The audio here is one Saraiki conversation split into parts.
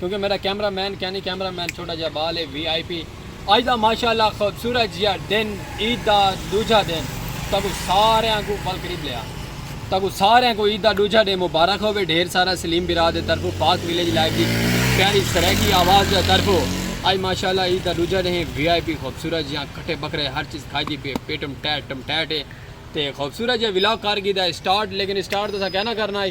کیونکہ میڈا کیمرہ مین کینی کیمرہ مین چھوٹا جیا بال ہے وی آئی پی اج دا ماشاءاللہ خوبصورت جیا دن عید دا ڈوجھا دن تاکو سارے آن کو بل قریب لیا تاکو سارے آن کو عید دا ڈوجھا دن مبارک ہوئے ڈھیر سارا سلیم برا دے طرفو پاک ویلیج لائف دی پیاری سریکی آواز دے طرفو اج ماشاءاللہ عید دا ڈوجھا دن وی آئی پی خوبصورت جیا کھٹے بکرے ہر چیز کھائی دی پی پیٹم ٹیٹ ٹم ٹیٹ ہے تے خوبصورت جیا ولاگ کار کی دا سٹارٹ لیکن سٹارٹ تو سا کہنا کرنا ہے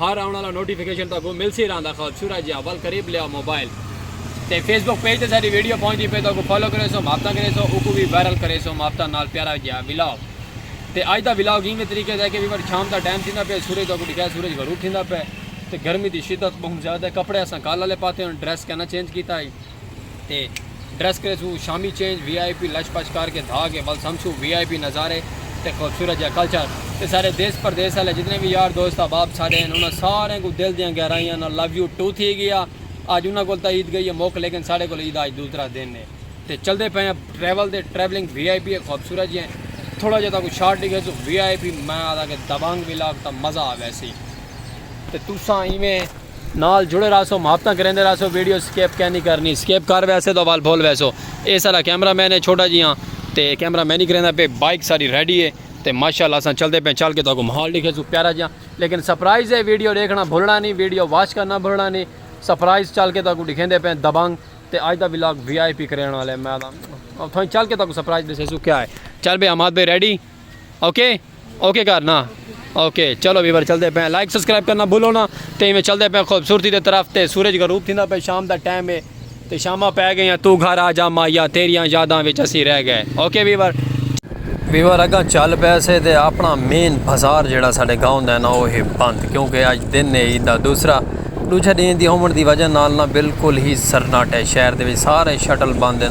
ہر آونڑ آلا نوٹیفکیشن تہاکوں ملسی رہندا خوبصورت جیہا ول قریب لیاؤ موبائل تے فیس بک پیج تے ساڈی ویڈیو پہنچدی پئی تہاکوں فالو کریسوں محبتاں کریسوں اوکوں وی وائرل کریسوں محبتاں نال پیارا جیہا ولاگ تے اج دا ولاگ اینویں طریقے دا ہے کہ ویور شام دا ٹائم تھیندا پیا سورج تہاکوں ڈکھایا سورج غروب تھیندا پیا تے گرمی دی شدت بہوں زیادہ ہے کپڑے اساں کل آلے پاتے ہن ڈریس کہناں چینج کیتا ہئی تے ڈریس کرے سوں شامی چینج وی آئی پی لچ پچ کر کے دھا کے ول سمسوں وی آئی پی نظارے تے خوبصورت جا کلچر تے سارے دیس پردیس آلے جتنے وی یار دوست احباب ساڈے ہن انہاں سارے کوں دل دیاں گہرائیاں نال لو یو ٹو تھی گیا اج انہاں کول تاں عید گئی ہے مک لیکن ساڈے کول عید اج دوسرا دن ہے تے چلدے پئے ہیں ٹریول تے ٹریولنگ وی آئی پی ہے خوبصورت جی تھوڑا جا تاکوں شارٹ ڈیکھے سوں وی آئی پی میں آدھا کہ دبنگ ولاگ تاں مزہ آ ویسی۔ تے تساں ایویں نال جڑے رہسو محبتاں کریندے رہسو ویڈیو سکیپ کینی کرنی سکیپ کر ویسے تاں وال بھول ویسو اے ساڈا کیمرہ مین ہے چھوٹا جیاں تے کیمرہ مینی کریندا پے بائیک ساڈی ریڈی ہے تے ماشاءاللہ اساں چلدے پے چل کے تاکو ماحول ڈکھے سو پیارا جیاں لیکن سرپرائز ہے ویڈیو ڈیکھنا بھولنا نہیں ویڈیو واچ کرنا بھولنا نہیں سرپرائز چل کے تاکو ڈکھیندے پے دبنگ تے اج دا ولاگ وی آئی پی کرین والے میں تھاں چل کے تاکو سرپرائز ڈسے سو کیا ہے چل بے اماد بے ریڈی اوکے اوکے کر نا اوکے چلو ویور چلتے پہ لائک سبسکرائب کرنا بھولو نا تو ایویں چلتے پہ خوبصورتی دے طرف تے سورج غروب تھیندا پہ شام دا ٹائم ہے تے شاماں پہ گئیاں تو گھر آ جا مایا تیریاں یاداں وچ اسی رہ گئے اوکے ویور ویور اگاں چل پے سے تے اپنا مین بازار جڑا ساڈے گاؤں دا ہے نا وہ ہے بند کیونکہ اج دن ہے عید دا دوسرا دوجھا دین دی ہومن دی وجہ نال نا بالکل ہی سرناٹے شہر دے وچ سارے شٹل بند ہیں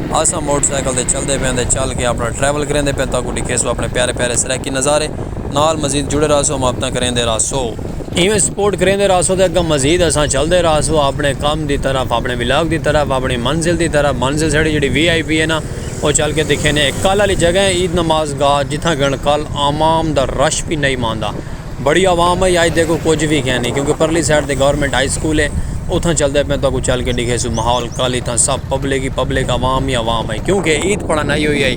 آساں موٹر سائیکل تے چلدے پیاں تے چل کے اپنا ٹریول کریندے پیاں تاکوں ڈکھیسوں اپنے پیارے پیارے سرائیکی نظارے نال مزید جڑے راہسوں مابتاں کریندے راہسوں۔ ایویں سپورٹ کریندے راہسوں تے اگاں مزید اساں چلدے راہسوں اپنے کم دی طرف اپنے ولاگ دی طرف اپنی منزل دی طرف منزل ساڑی جیڑی وی آئی پی ہے نا او چل کے دکھینے اے کل آلی جگہ ہے عید نماز گاہ جتھاں کن کل عوام دا رش وی نئیں ماندا۔ بڑی عوام ہے اج دیکھو کچھ وی کھے نی کیونکہ پرلی سائیڈ تے گورنمنٹ ہائی سکول ہے اتھاں چلدے پے تہاکوں چل کے ڈیکھے سوں ماحول کل اتھاں سب پبلک ہی پبلک عوام ہی عوام ہے کیونکہ عید پڑھن آئی ہوئی ہے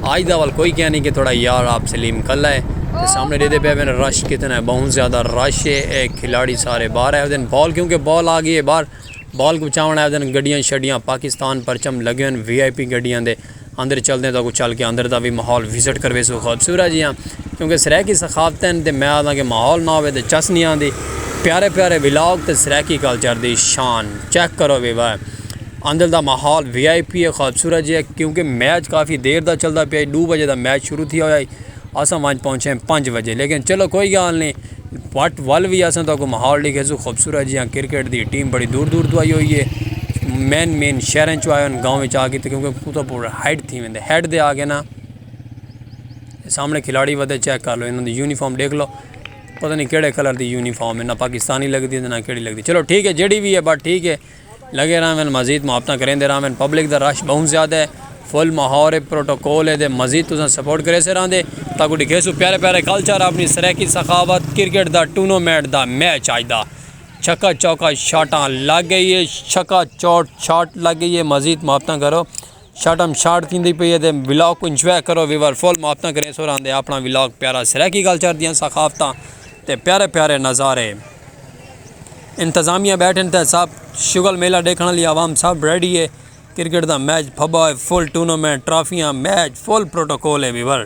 آج دا ول کوئی کھے نی کہ تھوڑا یار آپ سلیم کل ہے تے سامنے ڈیدھے پے ون رش کتنا ہے بہت زیادہ رش ہے اے کھلاڑی سارے باہر ہے ودن بال کیونکہ بال آ گئی ہے باہر بال کو چاون ہے ودن گڈیاں شڈیاں پاکستان پرچم لگے ہوئے وی آئی پی گڈیاں دے اندر چلدیں تاں اگوں چل کے اندر دا وی ماحول وزٹ کرویسوں خوبصورت جیہاں کیونکہ سرائیکی ثقافت ہن تے میں آہداں کہ ماحول نہ ہووے تے چس نی آندی پیارے پیارے ولاگ تے سرائیکی کلچر دی شان چیک کرو وی وا اندر دا ماحول وی آئی پی ہے خوبصورت جیہاں کیونکہ میچ کافی دیر دا چلدا پیا ڈو بجے دا میچ شروع تھیا ہویا ہی اساں وانچ پہنچے پنج بجے لیکن چلو کوئی گال نی پٹ ول وی اساں تہاکوں ماحول ڈکھیسوں خوبصورت جیہاں کرکٹ دی ٹیم بڑی دور دور توں آئی ہوئی ہے مین مین شہراں چوں آئے ہن گاؤں وچ آ کے تاں کیونکہ اتھاں پورا ہائیڈ تھی ویندے ہائیڈ دے آ کے نا سامنے کھلاڑی ودے چیک کر لو انہاں دی یونیفارم ڈیکھ لو پتہ نہیں کیڑے کلر دی یونیفارم ہے نہ پاکستانی لگدی ہے نہ کیڑی لگدی چلو ٹھیک ہے جیڑی وی ہے بٹ ٹھیک ہے لگے رہون مزید محبتاں کریندے رہون پبلک دا رش بہوں زیادہ ہے فل ماحول ہے پروٹوکول ہے تے مزید تساں سپورٹ کریسے رہندے تاں کو ڈکھیسوں پیارے پیارے کلچر اپنی سرائیکی سخاوت کرکٹ دا ٹونومنٹ دا میچ اج دا چھکا چوکا شاٹاں لگ گئی ہے چھکا چوٹ شاٹ لگ گئی ہے مزید محبتاں کرو شارٹ ہم شارٹ تھی پی ہے ولاگ کو انجوائے کرو ویور فل محبتاں کریں سو راندے اپنا ولاگ پیارا سرائیکی گل چڑھ دیاں ثقافتاں تے پیارے پیارے نظارے انتظامیہ بیٹھن تے سب شغل میلہ دیکھنے لی عوام سب ریڈی ہے کرکٹ دا میچ پھبا ہے فل ٹورنامنٹ ٹرافیاں میچ فل پروٹوکول ہے ویور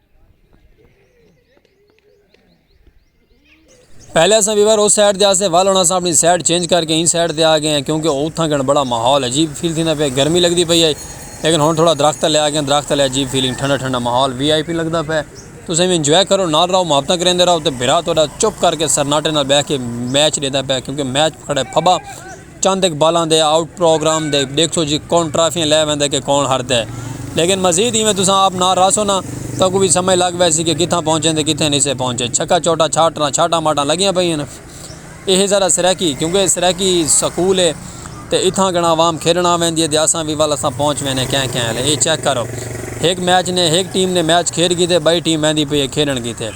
پہلے اساں ویور اس سائیڈ دے آسے ول ہن اساں اپنی سائیڈ چینج کر کے این سائیڈ دے آ گئے ہیں کیونکہ اوتھاں کن بڑا ماحول عجیب فیل تھیندا پیا گرمی لگدی پئی ہے لیکن ہن تھوڑا درخت لے آ گئے ہیں درخت لے عجیب فیلنگ ٹھنڈا ٹھنڈا ماحول وی آئی پی لگدا پیا تسیں بھی انجوائے کرو نال رہو محبتاں کریندے رہو تے بھرا تہاڈا چپ کر کے سرناٹے نال بیٹھ کے میچ ڈیندا پیا کیونکہ میچ کھڑے پھبا چند اقبالاں دے آؤٹ پروگرام دے ڈیکھسو جی کون ٹرافیاں لے ویندے کہ کون ہردے لیکن مزید ایویں تساں آپ نال رہسو نا تاں کوں وی سمجھ لگ ویسی کہ کتھاں پہنچے تے کتھیں نی سے پہنچے چھکا چوٹا چھاٹراں چھاٹاں ماٹاں لگیاں پئیاں نا ایہہ ذرا سرائیکی کیوں کہ سرائیکی سکول ہے تے اتھاں گھنڑاں عوام کھیڈن آ ویندی ہے تے اساں وی ول اساں پہنچ وینے کہیں کہیں الے ایہہ چیک کرو ہک میچ نے ہک ٹیم نے میچ کھیڈ کیتے بئی ٹیم ویندی پئی ہے کھیڈن کیتے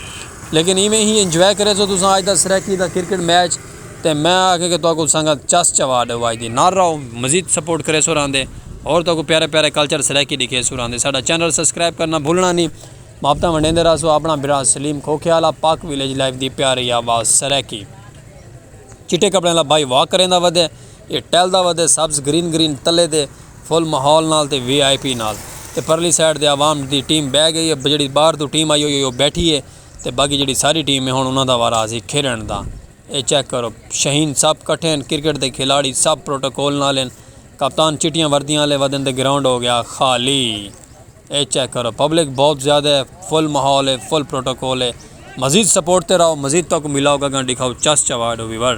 لیکن ایویں ہی انجوائے کریسو تساں اج دا سرائیکی دا کرکٹ میچ تے میں آکھے کہ تہاکوں سنگت چس چوا ڈے واج دی نال رہو مزید سپورٹ کریسو راندے ہور تہاکوں پیارے پیارے کلچر سرائیکی ڈکھیسو راندے ساڈا چینل سبسکرائب کرنا بھولنا نی محبتاں ونڈیندے رہسو اپنا بھرا سلیم کھوکھیال آ پاک ویلیج لائف دی پیاری آواز سرائیکی چٹے کپڑے والا بھائی واک کریندا ودے اے ٹہلدا ودے سبز گرین گرین تلے دے فل ماحول نال تے وی آئی پی نال تے پرلی سائیڈ تے عوام دی ٹیم بہہ گئی اے جیڑھی باہر توں ٹیم آئی ہوئی اے او بیٹھی اے تے باقی جیڑھی ساری ٹیم ہے ہن انہاں دا وارا آسی کھیڈݨ دا اے چیک کرو شہین سب کٹھے ہیں کرکٹ دے کھلاڑی سب پروٹوکول نال ہیں کپتان چٹیاں وردیاں والے ودن تے گراؤنڈ ہو گیا خالی اے چیک کرو پبلک بہت زیادہ ہے فل ماحول ہے فل پروٹوکول ہے مزید سپورٹ تے رہو مزید تک ملاؤ گا گاں دکھاؤ چس چواڈ ویور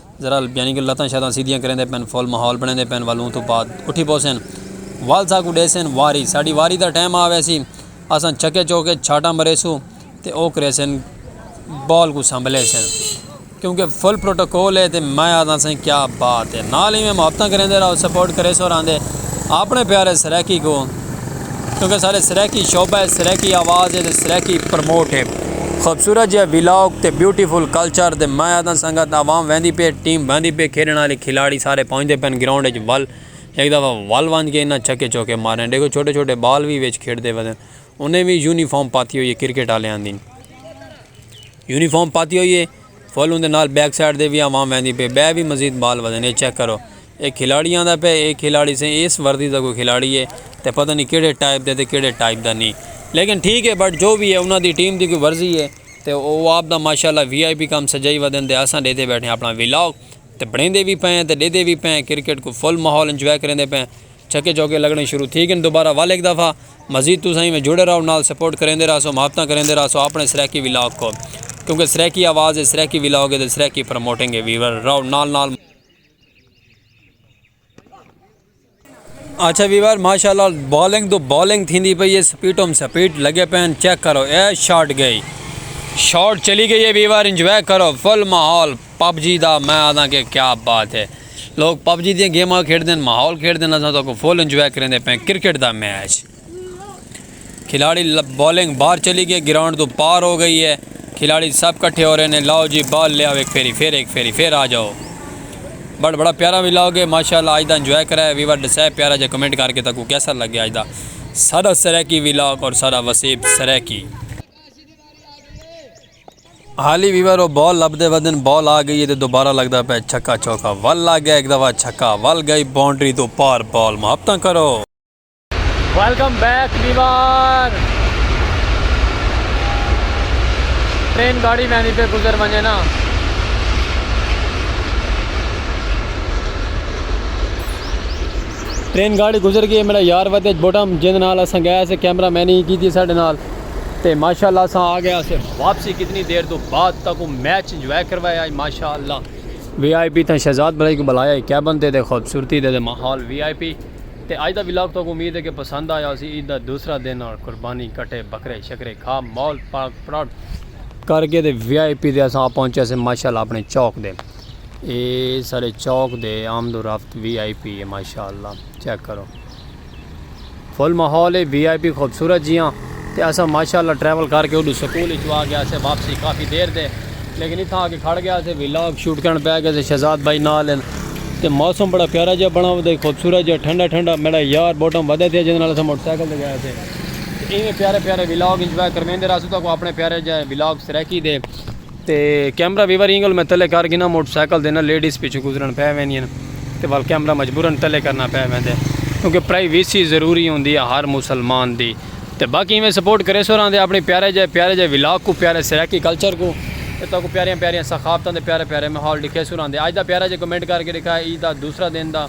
ذرا یعنی کہ لتاں شتاں سیدھیاں کریندے پن فل ماحول بنیندے پن والوں تو بعد اٹھی پوسن وال سا کو ڈیسن واری ساڈی واری دا ٹائم آ ویسی اساں چھکے چوکے چھاٹاں مریسو تے او کریسن بال کو سنبھلے سن کیونکہ فل پروٹوکول ہے تے میں آدھا سن کیا بات ہے نال ہی میں محبتاں کریندے راو سپورٹ کریسو راندے اپنے پیارے سرائیکی کو کیونکہ سارے سرائیکی شعبہ ہے، سرائیکی آواز ہے تے سرائیکی پروموٹ ہے۔ خوبصورت جیہا ویلاگ تے بیوٹی فل کلچر تے میں آہداں سنگت عوام ویندی پئی ہے ٹیم ویندی پئی ہے کھیڈݨ آلی کھلاڑی سارے پہنچدے پئن گراؤنڈ اچ ول ہک دفعہ ول ونج کے انہاں چھکے چوکے مارے ݙیکھو چھوٹے چھوٹے بال وی وچ کھیڈدے پئن انہیں وی یونیفارم پاتی ہوئی ہے کرکٹ آلیاں دی یونیفارم پاتی ہوئی ہے۔ فل اوندے نال بیک سائیڈ دے وی عوام ویندی پئے بئے وی مزید بال ودن اے چیک کرو اے کھلاڑی آندا پئے اے کھلاڑی سے ایس وردی دا کوئی کھلاڑی اے تے پتہ نی کیڑے ٹائپ دا تے کیڑے ٹائپ دا نی لیکن ٹھیک اے بٹ جو وی اے انہاں دی ٹیم دی کوئی ورزی اے تے او آپ دا ماشاءاللہ وی آئی پی کم سجائی ودن تے اساں ڈیدھے بیٹھے آں اپنا ولاگ تے بنڑیندے وی پئے آں تے ڈیدھے وی پئے آں کرکٹ کوں فل ماحول انجوائے کریندے پئے آں چھکے چوکے لگنے شروع تھی گن دوبارہ ول ہک دفعہ مزید تساں ایویں جڑے راہو نال سپورٹ کریندے راہسو محبتاں کریندے راہسو اپنے سرائیکی ولاگ کو کیونکہ سرائیکی آواز ہے سرائیکی ولاگ ہے تے سرائیکی پروموٹنگ ہے ویور راہو نال نال اچھا ویور ماشاءاللہ بالنگ تو بالنگ تھیندی پئی ہے سپیٹم سپیٹ لگے پین چیک کرو اے شاٹ گئی شاٹ چلی گئی ہے ویور انجوائے کرو فل ماحول پب جی دا میں آدھاں کہ کیا بات ہے لوگ پب جی دیاں گیماں کھیڈدن ماحول کھیڈدن اساں تاکوں فل انجوائے کریندے پئیں کرکٹ دا میچ کھلاڑی بالنگ باہر چلی گئی گراؤنڈ تو پار ہو گئی ہے کھلاڑی سب کٹھے ہو رہے نے لاؤ جی بال لے آؤ ایک پھیری پھر ایک پھیری پھر آ جاؤ بڑا بڑا پیارا وی لاؤ گے ماشاءاللہ اج دا انجوائے کرائے ویور ڈسے پیارا جے کمنٹ کر کے تاکوں کیسا لگے اج دا سارا سرائیکی وی لاؤ اور سارا وسیب سرائیکی ہالی وی ویرو بال لبھدے ودن بال آ گئی ہے تے دوبارہ لگدا پئے چھکا چوکا ول لگ گئے ہک دفعہ چھکا ول گئی باؤنڈری توں پار بال محبتاں کرو۔ ویلکم بیک ویور ٹرین گاڑی ویندی پئی گزر ونجے نا۔ ٹرین گاڑی گزر گئی ہے میڈا یار ودے اچ بوٹم جیندے نال اساں گئے اسے کیمرہ مین ہی کیتی ساڈے نال۔ تے ماشاءاللہ اساں آ گئے اسے واپسی کتنی دیر تو بعد تک وہ میچ انجوائے کروایا ہے ماشاءاللہ وی آئی پی تھا شہزاد بھلائی کو بلایا ہے کیبن تے دے خوبصورتی دے دے ماحول وی آئی پی تے آج دا ولاگ تو امید ہے کہ پسند آیا اسی عید دا دوسرا دن اور قربانی کٹے بکرے شکرے کھا مول پاک پراؤڈ کر کے دے وی آئی پی دے اساں پہنچے سے ماشاءاللہ اپنے چوک دے اے سارے چوک دے آمد و رفت وی آئی پی ہے ماشاءاللہ چیک کرو فل ماحول ہے وی آئی پی خوبصورت جیاں تے اساں ماشاء اللہ ٹریول کر کے اوڈو سکول اچو آ گیا سے واپسی کافی دیر تے لیکن اتھاں آ کے کھڑ گیا سے وی لاگ شوٹ کرن پے گئے سے شہزاد بھائی نال ہن تے موسم بڑا پیارا جیا بنا ودے خوبصورت جیا ٹھنڈا ٹھنڈا میڈا یار بوٹم ودے تھیا جیندے نال اساں موٹر سائیکل تے گئے سے تے ایویں پیارے پیارے وی لاگ انجوائے کرویندے رہسوں تہاکوں اپنے پیارے جے وی لاگ سرائیکی دے۔ تے کیمرہ ویور اینگل میں تلے کر گھناں موٹر سائیکل دے نہ لیڈیز پچھوں گزرن پے ویندین تے ول کیمرہ مجبورن تلے کرنا پے ویندے کیونکہ پرائی ویسی ضروری ہوندی ہے ہر مسلمان دی تے باقی ایویں سپورٹ کریسو راہندے اپنے پیارے جے پیارے جے ولاگ کو پیارے سرائیکی کلچر کو تے تہاکوں پیاریاں پیاریاں ثقافتاں دے پیارے پیارے ماحول ڈکھیسو راہندے اج دا پیارا جے کمنٹ کر کے ڈکھا ہے عید دا دوسرا دن دا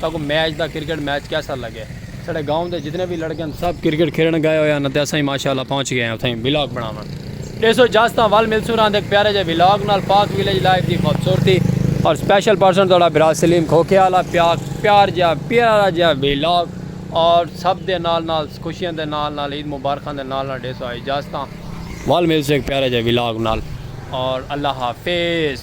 ساکوں میچ دا کرکٹ میچ کیسا لگے ساڈے گاؤں دے جتنے وی لڑکے ہن سب کرکٹ کھیلن گئے ہوئے ہن اتے اساں وی ماشاءاللہ پہنچ گئے ہیں اتھائیں ولاگ بناون ڈیسو اجازتاں ول ملسوں راند ہک پیارے جے ولاگ نال پاک ویلیج لائف دی خوبصورتی اور سپیشل پرسن تہاڈا بھرا سلیم کھوکھے والا پیاک پیار جیا پیارا جیا ولاگ اور سب دے نال نال خوشیاں دے نال نال عید مبارکاں دے نال نال ڈیسو اجازتاں ول ملسوں ہک پیارے جے ولاگ نال اور اللہ حافظ۔